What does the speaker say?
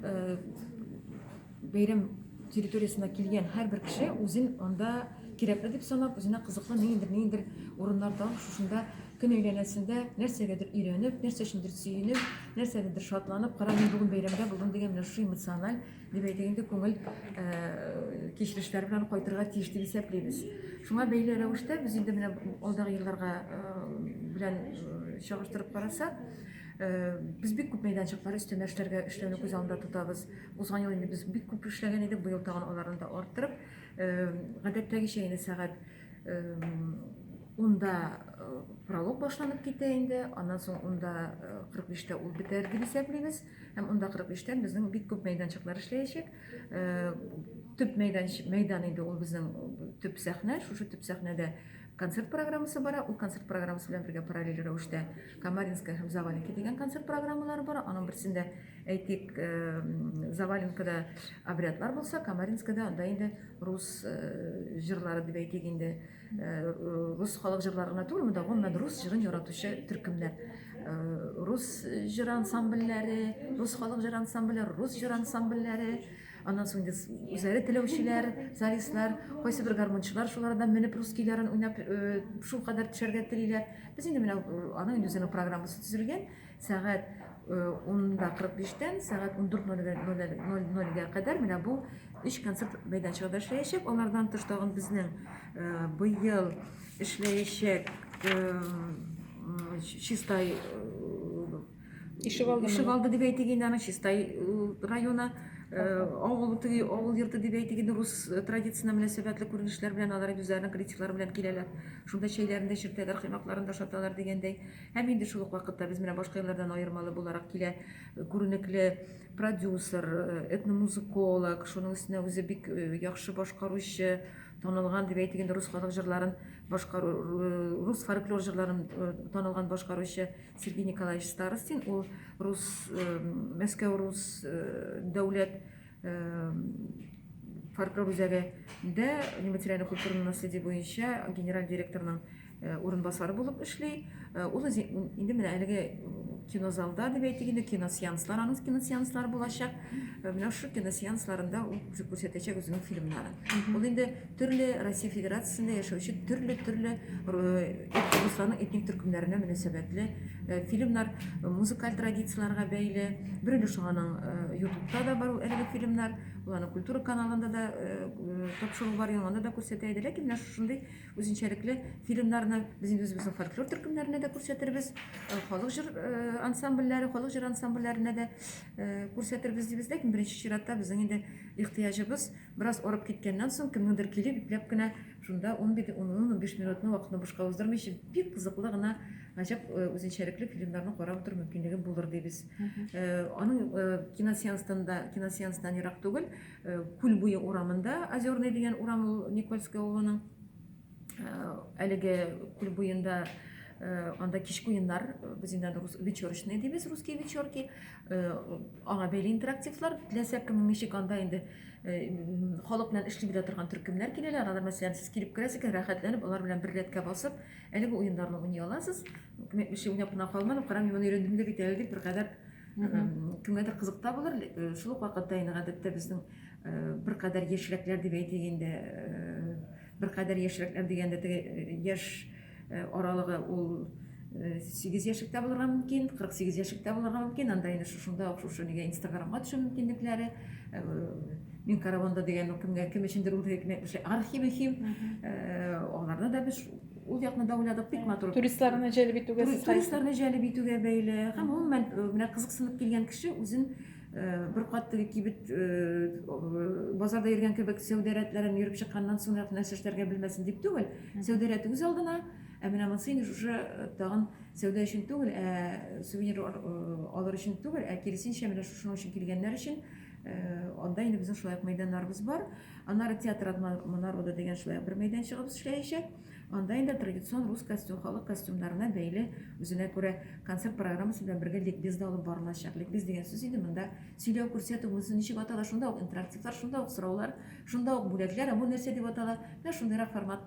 Э, бәйрәм территориясенә килгән һәрбер кеше үзен анда кирәкле дип санап, үзенә кызыклы ниндер ниндер урыннар табып, шушында көн әйләнәсендә нәрсәгәдер өйрәнеп, нәрсә өчендер сөенеп, нәрсәгәдер шатланып, кара мин бүген бәйрәмдә булдым дигән менә шушы эмоциональ, дип әйтик инде, күңел э, кичерешләр белән кайтырга тиеш дип исәплибез. Шуңа бәйле рәвештә без инде менә алдагы елларга э, белән чагыштырып карасак, Э, без бик күп мәйданчыклар өстәмә эшләргә эшләүне күз алдында тотабыз. Узган ел инде без бик күп эшләгән идек, быел тагын аларны да арттырып, э, гадәттәгечә инде сәгать э, унда пролог башланып китә инде, аннан соң унда 45-тә ул бетәр дип исәплибез, һәм унда 45-тә безнең бик күп мәйданчыклар эшләячәк. Төп мәйдан, мәйдан инде ул безнең төп сәхнә, шушы төп сәхнәдә концерт программасы бара, ул концерт программасы белән бергә параллель рәвештә Камаринская һәм Заваленка дигән концерт программалары бар. Аның берсендә, әйтик, Заваленкада обрядлар булса, Камаринскада анда инде рус җырлары дип әйтик инде, рус халык җырлары гына түгел, монда гомумән рус җырын яратучы төркемнәр. Рус җыр ансамбльләре, рус халык җыр ансамбльләре, рус җыр ансамбльләре, Аннан соң үзләре теләүчеләр, солистлар, кайсы бер гармунчылар шулардан менеп рус көйләрен уйнап э, шул кадәр төшәргә телиләр. Без инде менә э, аның инде үзенең программасы төзелгән. Сәгать 10-да э, 45-тән сәгать 14.00-га кадәр менә бу өч концерт мәйданчыгында эшләячәк. Алардан тыш тагын безнең быел эшләячәк чистай Ишек алды. Ишек алды дип әйтик инде аны Чистай районы авыл теге авыл йорты дип әйтик инде рус традициясенә мөнәсәбәтле күренешләр белән алар үзләренең критиклары белән киләләр. Шунда чәйләрен дә чиртәләр, коймакларын да шаталар дигәндәй. Һәм инде шул ук вакытта без менә башка еллардан аермалы буларак килә күренекле продюсер, этномузыколог, шуның өстенә үзе бик яхшы башкаручы, танылган дип әйтик инде рус халык җырларын башкару рус фольклор җырларын танылган башкаручы Сергей Николаевич Старостин ул рус Мәскәү рус дәүләт фольклор үзәгендә нематериальный культурный наследие буенча генераль директорның урынбасары булып эшли. Ул инде менә әлеге кинозалда дип әйтик инде киносеанслар аның киносеанслары булачак менә шул киносеансларында ул күрсәтәчәк үзенең фильмнарын ул инде Төрле Россия Федерациясендә яшәүче төрле-төрле Русларның этник төркемнәренә мөнәсәбәтле э, фильмнар э, музыкаль традицияләргә бәйле. Бер өлеше шуның ютубта э, да бар әлеге фильмнар, уларның культура каналында да тапшыру бар, яңанда да күрсәтә иде. Ләкин менә шушындый үзенчәлекле фильмнарны без инде үзебезнең фольклор төркемнәренә дә күрсәтербез, халык җыр ансамбльләре, халык җыр ансамбльләренә дә күрсәтербез дибез. Ләкин беренче чиратта безнең инде ихтыяҗыбыз Бераз арып киткәннән соң, кемнеңдер килеп, ипләп кенә шунда унбиде, ун-ун, унбиш минутны вакытны бушка уздырмыйча, бик кызыклы гына, гаҗәп э, үзенчәлекле фильмнарны карап утыру мөмкинлеге булыр дибез. Э, аның э, киносеанстан да, киносеанстан ерак түгел, э, күл буе урамында, Озерный дигән урам ул Никольская авылының э, әлеге күл буенда э, анда кичке уеннар, э, без инде аны рус, вечерочные дибез, русские вечерки, аңа бәйле интерактивлар теләсә кем ничек анда инде халык белән эшли белә торган төркемнәр киләләр алар мәсәлән сез килеп керәсез икән рәхәтләнеп алар белән бер рәткә басып әлеге уеннарны уйный аласыз димәк мишә уйнап кына калмадым карам моны өйрәндем дә бит әле дип беркадәр кемгәдер кызык та булыр шул ук вакытта инде гадәттә безнең беркадәр яшьрәкләр дип әйтик инде беркадәр яшьрәкләр дигәндә теге яшь Э, аралыгы ул э, сигез яшектә булырга мөмкин кырык сигез яшектә булырга мөмкин анда инде шушында ук шушы нигә инстаграмга төшү мөмкинлекләре э, мин караванда дигән кемгә кем өчендер ул хикмәтле архив мөһим аларны да без ул якны да уйладык бик матур туристларны җәлеп итүгә туристларны җәлеп итүгә бәйле һәм гомумән менә кызыксынып килгән кеше үзен Бер кат теге кибет базарда йөргән кебек сәүдә рәтләрен йөреп чыкканнан соң гына нәрсә эшләргә белмәсен дип түгел. Сәүдә рәте үз алдына, ә менә монысы инде шушы тагын сәүдә өчен түгел, ә сувенир алыр өчен түгел, ә киресенчә менә шушының өчен килгәннәр өчен анда инде безнең шулай ук мәйданнарыбыз бар. Аннары театр атманар ода дигән шулай ук бер мәйданчыгыбыз эшләячәк. Анда инде традицион рус костюм, халык костюмнарына бәйле үзенә күрә концерт программасы белән бергә ликбез дә алып барылачак. Ликбез дигән сүз инде монда сөйләү, күрсәтү, монысы ничек атала, шунда ук интерактивлар, шунда ук сораулар, шунда ук бүләкләр, ә бу нәрсә дип атала, менә шундыйрак форматта.